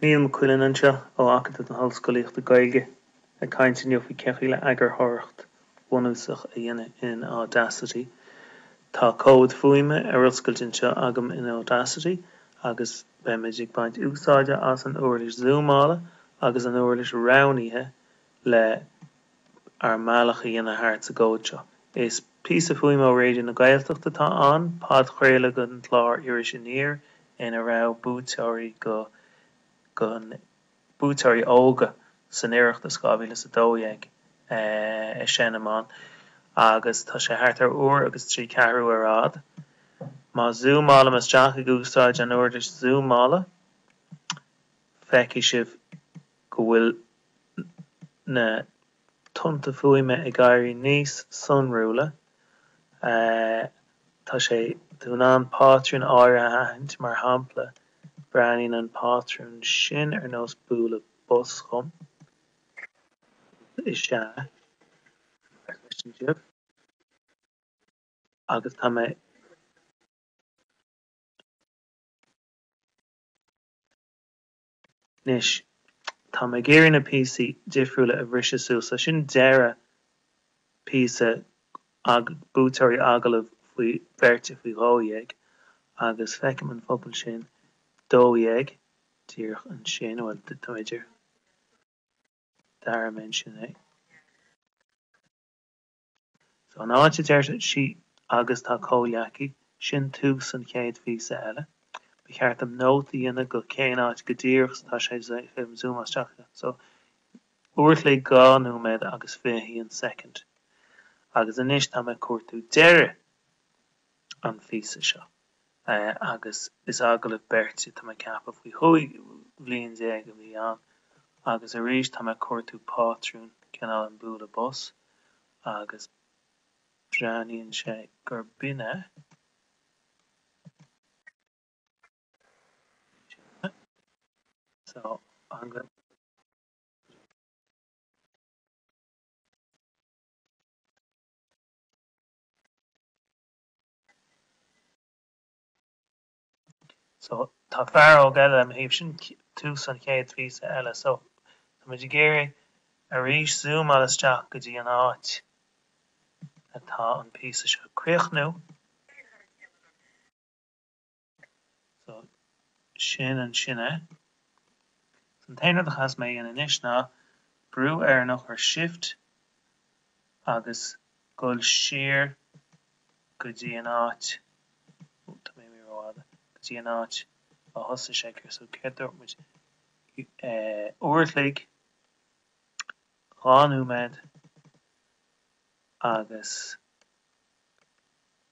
Niall Mac Uidhilin anseo, ó Acadamh na hOllscolaíochta Gaeilge, ag caint inniu faoin gcaoi le eagarthóireacht bhunúsach a dhéanamh in Audacity. Tá comhad fuaime ar oscailt anseo agam in Audacity agus beimid ag baint úsáide as an uirlis zúmála agus an uirlis roghnaithe le ár mbealach a dhéanamh thart sa gcomhad seo. Is píosa fuaime ó Raidió na Gaeltacht atá ann, podchraoladh den chlár Iris Aniar ina raibh buaiteoirí go buaiteoirí óga ón Oireachtas 2012 ag seinm ann agus tá sé thart ar uair agus trí ceathrú ar fhad. Má zúmálaim isteach ag úsáid an uirlis zúmála, feicfidh sibh go bhfuil na tonnta fuaime ag éirí níos sonrúla. Tá tú in ann pátrúin áirithe a aithint, mar shampla, breathnaíonn an pátrún sin ar nós bualadh bos dhom. Rud is ea a chloisim sibh agus tá mé ag Anois, tá mé ag iarraidh na píosaí difriúla a bhriseadh suas, so sin deireadh píosa buaiteoirí agallamh beirte faoi dhó dhéag, agus feicim an pobal sin dó dhéag díreach ansin, nó bhuel, tá mé idir dara mention é. So an áit a deir sí Agus tá comhleacaí, sin tús an chéad phíosa eile, ba cheart dom nóta a dhéanamh de cén áit go díreach so tá sé fúm zúmáil isteach air. So uair a chloig dhá nóiméad agus fiche haon soicind. Agus anois tá mé ag cuartú deireadh an phíosa seo. agus is agallamh beirte tá mé ag ceapadh faoi chúig bhliain déag a bhí ann agus arís tá mé ag cuartú pátrún, cineál an bualadh bos agus breathnaíonn sé gur b'in é. So, tá fear óg eile ar mo thaobh, sin tús an chéad phíosa eile. So, tá muid ag iarraidh arís zúmáil isteach go dtí an áit atá an píosa seo ag críochnú. So, sin ansin é. So, an t-aon rud a chaithfeas mé a dhéanamh anois ná brú ar an eochair Shift agus dul siar go dtí an áit, oh, tá mé imithe rófhada, go dtí an áit a thosaigh sé ag, so, céard dúirt muid? Eh, uair a chloig, dhá nóiméad agus.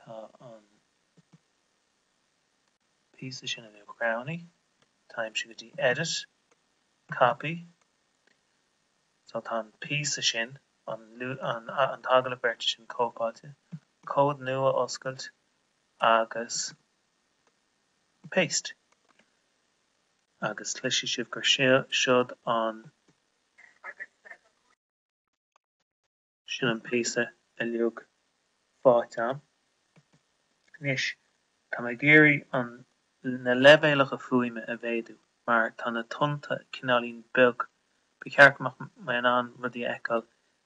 tá an píosa sin uilig roghnaithe, téimse go dtí edit, copy, so tá an píosa sin, an t-agallamh beirte sin cóipeáilte, comhad nua oscailt agus paste. Agus cloisfidh sibh gur siod an. Sin an píosa uilig faighte agam. Anois, tá mé ag iarraidh an, na leibhéalacha fuaime a mhéadú mar tá na tonnta cineáilín beag, ba cheart go mbeadh mé in ann rudaí a fheiceáil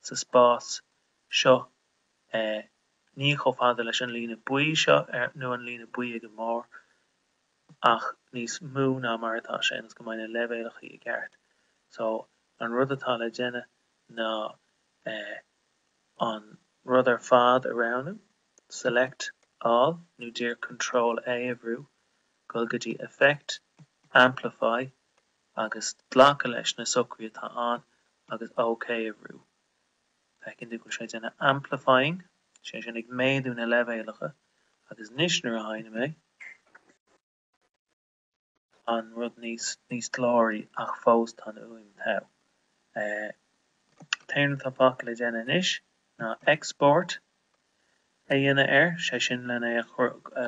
sa spás seo eh ní chomh fada leis an líne buí seo ar, nó an líne buí ag an mbarr ach níos mó ná mar atá sé ionas go mbeidh na leibhéalacha i gceart. So, an rud atá le déanamh ná an rud ar fad a roghnú, Select All nó díreach Control A a bhrú dhul go dtí Effect, Amplify agus glacadh leis na socruithe atá ann agus OK a bhrú. Feiceann tú go bhfuil sé ag déanamh amplifying, sé sin ag méadú na leibhéalacha, agus anois nuair a sheinnim é, an rud níos níos glóraí ach fós tá an fhuaim togha. An t-aon rud atá fágtha le déanamh anois ná export a dhéanamh air, sé sin len é a chur a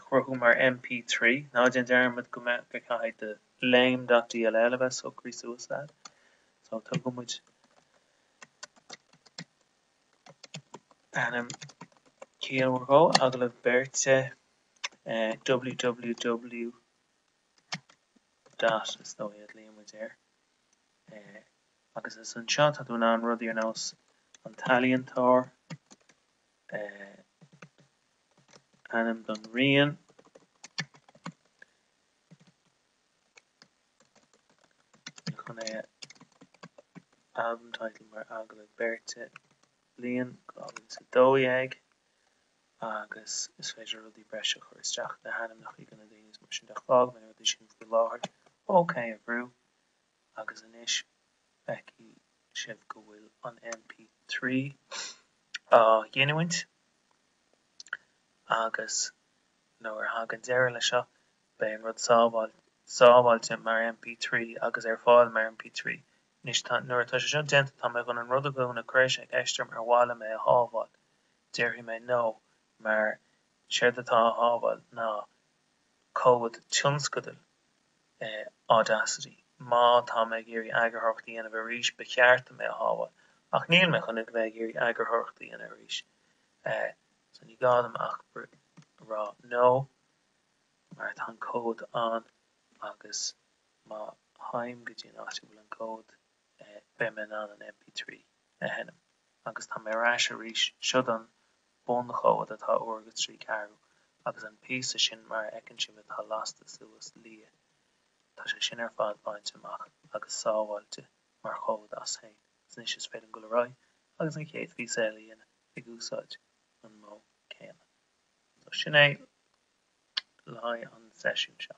chruthú mar MP3. Ná déan dearmad go mbeadh go gcaithfidh do lame dot dll a bheith socraithe suas agat. So tugann muid ainm ciallmhar dhó, agallamh beirte. www dot is dóigh a ghlaonn muid air agus is anseo tá tú in ann rudaí ar nós an t-ealaíontóir, ainm don rian, chun é album title mar agallamh beirte bliain 2012. agus is féidir rudaí breise a chur isteach, na hainmneacha de na daoine is mar sin de. Fág na rudaí sin faoi láthair. OK a bhrú agus anois feicfidh sibh go bhfuil an MP3 á ghiniúint agus nuair a thagann deireadh leis seo beidh an rud sábháilte mar MP3 agus ar fáil mar MP3. Anois nuair atá sé seo déanta tá mé chun an rud a dhúnadh, cuireann sé ceist orm, ar mhaith liom é a shábháil? déarfaidh mé no, mar séard atá á shábháil ná comhad tionscadail Audacity. Má tá mé ag iarraidh eagarthóireacht a dhéanamh air arís, ba cheart dom é a shábháil, ach níl mé chun a bheith ag iarraidh eagarthóireacht a dhéanamh air arís, so ní gá dom ach a rá no, mar tá an comhad ann, agus má théim go dtí an áit a bhfuil an comhad, beidh mé in ann an MP3 a sheinm agus tá mé ar ais arís. Seo é an bunchomhad atá uair agus trí ceathrú agus an píosa sin mar a fheiceann sibh atá lasta suas, liath. Tá sé sin ar fad bainte amach agus sábháilte mar chomhad as féin. Agus anois is féidir liom dul ar aghaidh agus an chéad phíosa eile a dhéanamh ag úsáid an modh céanna. So sin é le haghaidh an seisiún seo.